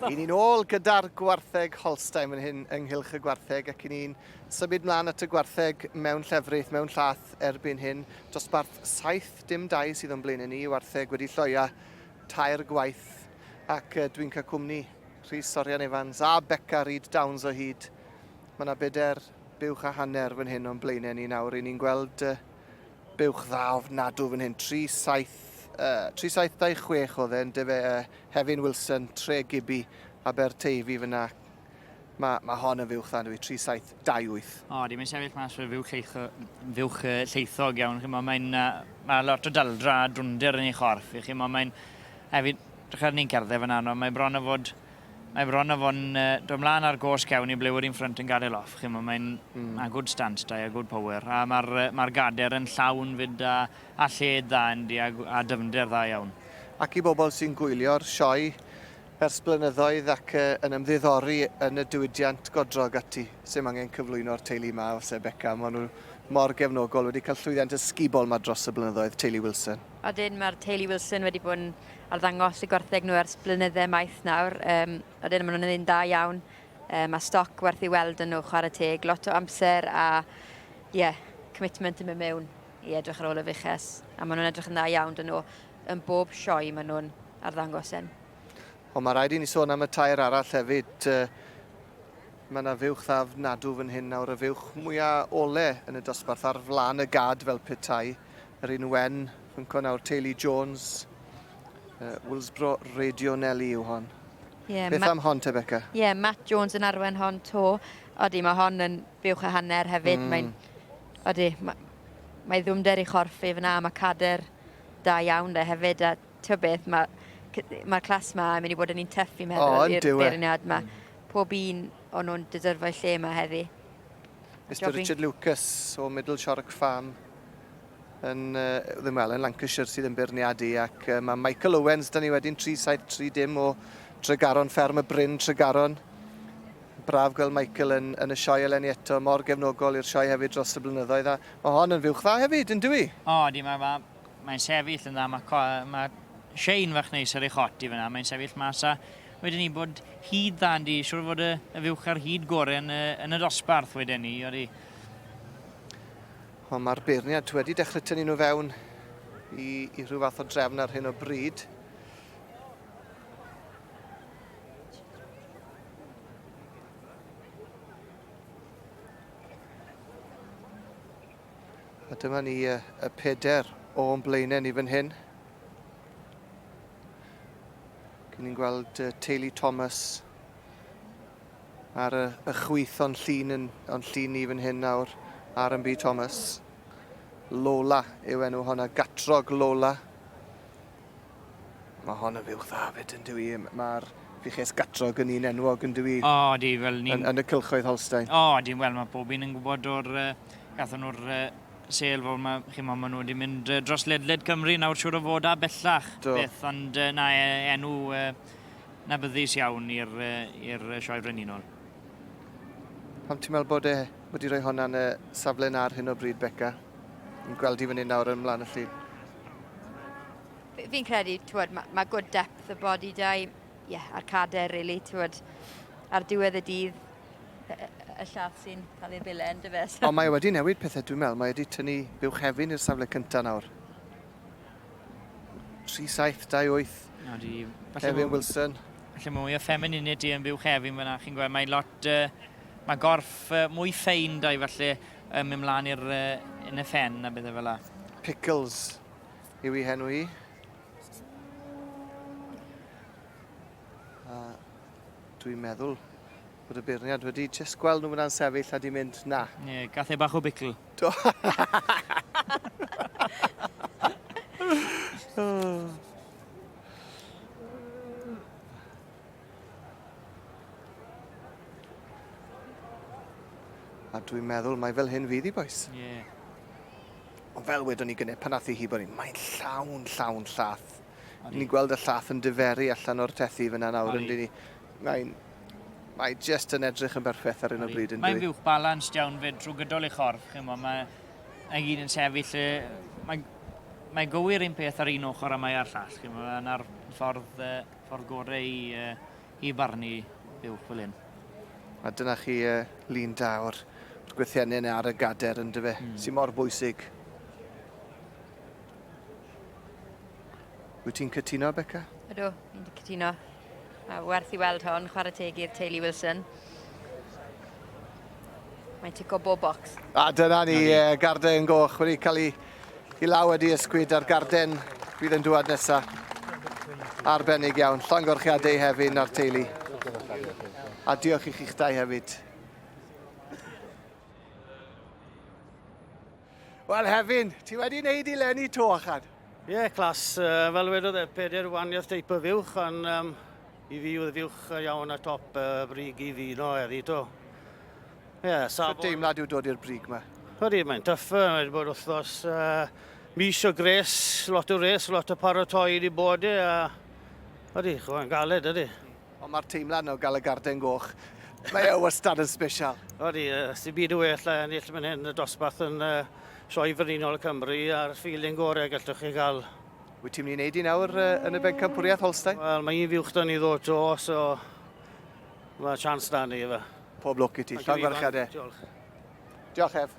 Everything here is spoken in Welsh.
Ry'n ni'n ôl gyda'r gwartheg Holstein fan hyn ynghylch y gwartheg ac i ni'n symud mlaen at y gwartheg mewn llefrith, mewn llath erbyn hyn. Dosbarth saith dim dau sydd o'n blaenau ni, wartheg wedi lloia tair gwaith ac dwi'n cael cwmni Rhys Orian Evans a Beca Reid Downs o hyd. Mae yna bedair buwch a hanner fan hyn o'n blaenau ni nawr, ry'n ni'n gweld Buwch dda ofnadw fan hyn, 37, 376 oedd e, yn dyfe, uh, Hefin Wilson, Tre Gibby, Aberteifi fyna. Mae ma hon yn fuwch dda, dwi, 3728. O, dim yn sefyll mas fe fuwch, lleitho, fuwch uh, lleithog iawn, chi mo, mae'n, uh, mae lot o daldra a drwnder yn ei chorff, chi mo, mae'n, hefyd, drachar ni'n cerdded fan anodd, mae bron o fod Mae bron a fo'n dod mlaen ar gos cefn i ble wedi'n ffrynt yn gadael off. Chimo, mae'n mm. a good stance da, a good power. A mae'r mae gader yn llawn fyd a, a lled dda yndi, a, a dyfnder dda iawn. Ac i bobl sy'n gwylio'r sioe ers blynyddoedd ac uh, yn ymddiddori yn y diwydiant godrog ati, sy'n angen cyflwyno'r teulu yma, os e Becca, maen nhw mor gefnogol, wedi cael llwyddiant ysgubol yma dros y blynyddoedd, teulu Wilson. Ydyn, mae'r teulu Wilson wedi bod yn arddangos y gwartheg nhw ers blynydde maith nawr. Um, Odyn, maen nhw'n un da iawn. Um, mae stoc werth i weld yn nhw, chwarae teg. Lot o amser a, ie, yeah, commitment yn mynd mewn i edrych ar ôl y fuches. A maen nhw'n edrych yn dda iawn dyn nhw. Yn bob sioe maen nhw'n arddangos yn. Ond mae rhaid i ni sôn am y tair arall hefyd. Mae yna fuwch dda nadw fan hyn nawr, y fuwch mwyaf ole yn y dosbarth ar flaen y gad fel petai. Rhun Wen, pwnc o'n awr Teulu Jones, uh, Willsbro Radio Nelly yw hon. Yeah, Beth am hon te, Becca? Ie, yeah, Matt Jones yn arwen hon to. Odi, mae hon yn buwch a hanner hefyd. Mm. Mae'n... Odi, mae, mae ddwmder i chorff i fyna, mae cader da iawn de hefyd. A ti'n beth, mae'r ma clas ma yn mynd i bod yn un tyff i meddwl oh, i'r e? beirniad ma. Mm. Pob un o'n nhw'n dydyrfau lle yma heddi. Mr Richard Lucas o Middle Shorrock Farm. yn, ddim wel, yn Lancashire sydd yn beirniadu ac mae Michael Owens, da ni wedyn 373 dim o Tregaron, fferm y Bryn, Tregaron. Braf gweld Michael yn, yn y sioe eleni eto, mor gefnogol i'r sioe hefyd dros y blynyddoedd, a mae hon yn fywch dda hefyd, yn dwi? O, di, mae'n ma, mae sefyll yn dda, mae, mae Shane fach neis ar ei chot i fyna, mae'n sefyll mas a wedyn ni bod hyd dda yn di, siwr fod y, y fywch ar hyd gorau yn, yn y dosbarth wedyn ni, oeddi. Wel, mae'r beirniaid wedi dechrau tynnu nhw fewn i, i rhyw fath o drefn ar hyn o bryd. A dyma ni y, y peder o'n blaenau ni fan hyn. Gyn ni'n gweld uh, Teulu Thomas, Ar y y chwith o'n llun yn o'n llun ni fan hyn nawr ar yn byd Thomas. Lola yw enw honna, gatrog Lola. Mae hon yn fyw dda fyd yn dwi, mae'r fiches gatrog yn un enwog yn dwi. O, oh, di, fel ni'n... Yn, yn y cylchoedd Holstein. O, oh, di, wel mae pob un yn gwybod o'r, uh, gathon nhw'r uh, sel fel mae, chi'n ma, maen nhw wedi mynd dros ledled Cymru nawr siwr o fod a bellach. Do. Beth, ond na e, enw... Adnabyddus iawn i'r i'r Sioe Frenhinol. Pam ti'n meddwl bod e wedi rhoi honna yn y safle yna ar hyn o bryd, Beca? Ni'n gweld hi fan hyn nawr yn mlaen y llun. Fi'n credu, twod, mae ma good depth y body da i, yeah, a'r cader, really, twod, ar diwedd y dydd, y llath sy'n cael ei bile yn dyfe. So. Ond mae e wedi newid pethau, dwi'n meddwl. Mae wedi tynnu buwch hefyn i'r safle cyntaf nawr. 3728. O, di... Kevin Wilson. Felly mae mwy o ffemininid di yn byw Kevin fyna, chi'n gweld, mae'n lot... Uh, mae gorff uh, mwy ffein da i falle um, mynd mlaen i'r uh, yn y ffen a bethau fel la. Pickles yw i henw i. Uh, dwi'n meddwl Bod y beirniad wedi jyst gweld nhw fyna'n sefyll a di mynd, na. Ie, gath e bach o bicl. Do. A dwi'n meddwl mae fel hyn fydd i, boes. Ie. Yeah. Ond fel wedwn ni gynnau, pan nath i hi bod ni, mae'n llawn, llawn llath. Ni'n gweld y llath yn diferu allan o'r tethi fyna nawr yn ni. Mae'n... Mae just yn edrych yn berffaith ar hyn o bryd yn Mae'n fuwch balans iawn fyd drwy gydol ei chorff. Chimo, mae mae gyd yn sefyll lle... Mae, mae gywir un peth ar un ochr a mae ar llall. Chimo, yna'r ffordd, uh, ffordd gorau i, uh, i barnu buwch fel hyn. A dyna chi uh, lun da o'r, o'r gwythiennau yna ar y gader yn dyfe, mm. sy'n mor bwysig. Wyt ti'n cytuno, Becca? Ydw, fi'n cytuno. Mae werth i weld hon, chwarae teg i'r teulu Wilson. Mae'n tico bob bocs. A dyna ni, e, garden yn goch wedi cael ei i law wedi ysgwyd ar garden fydd yn dŵad nesaf. Arbennig iawn. Llongorchiadau hefyd na'r teulu. A diolch i chi'ch dau hefyd. Wel Hefin, ti wedi wneud i Lenny to achan? Ie, yeah, clas. Uh, fel wedodd e, peder waniaeth teip y fiwch, ond um, i fi oedd fiwch iawn a top uh, brig i fi no er i to. Ie, yeah, safon... Sut deimlad yw dod i'r brig yma? Ydy, mae'n tuff, mae'n wedi bod wythnos uh, mis o gres, lot o res, lot o paratoi wedi bod e, a ydy, chwa'n galed, ydy. Ond mae'r teimlad yna o gael y garden goch, mae e wastad yn sbesial. Odi, sy'n byd o well a ennill mynd hyn y dosbarth yn uh, sioe frenhinol y Cymru a'r feeling gorau gallwch chi gael. Wyt ti'n mynd i wneud i nawr uh, yn y bencampwriaeth Holstein? Wel, mae un fiwch da ni ddod to, so mae chance da ni efe. Pob lwc i ti, llong farchad e. Diolch. Diolch ef.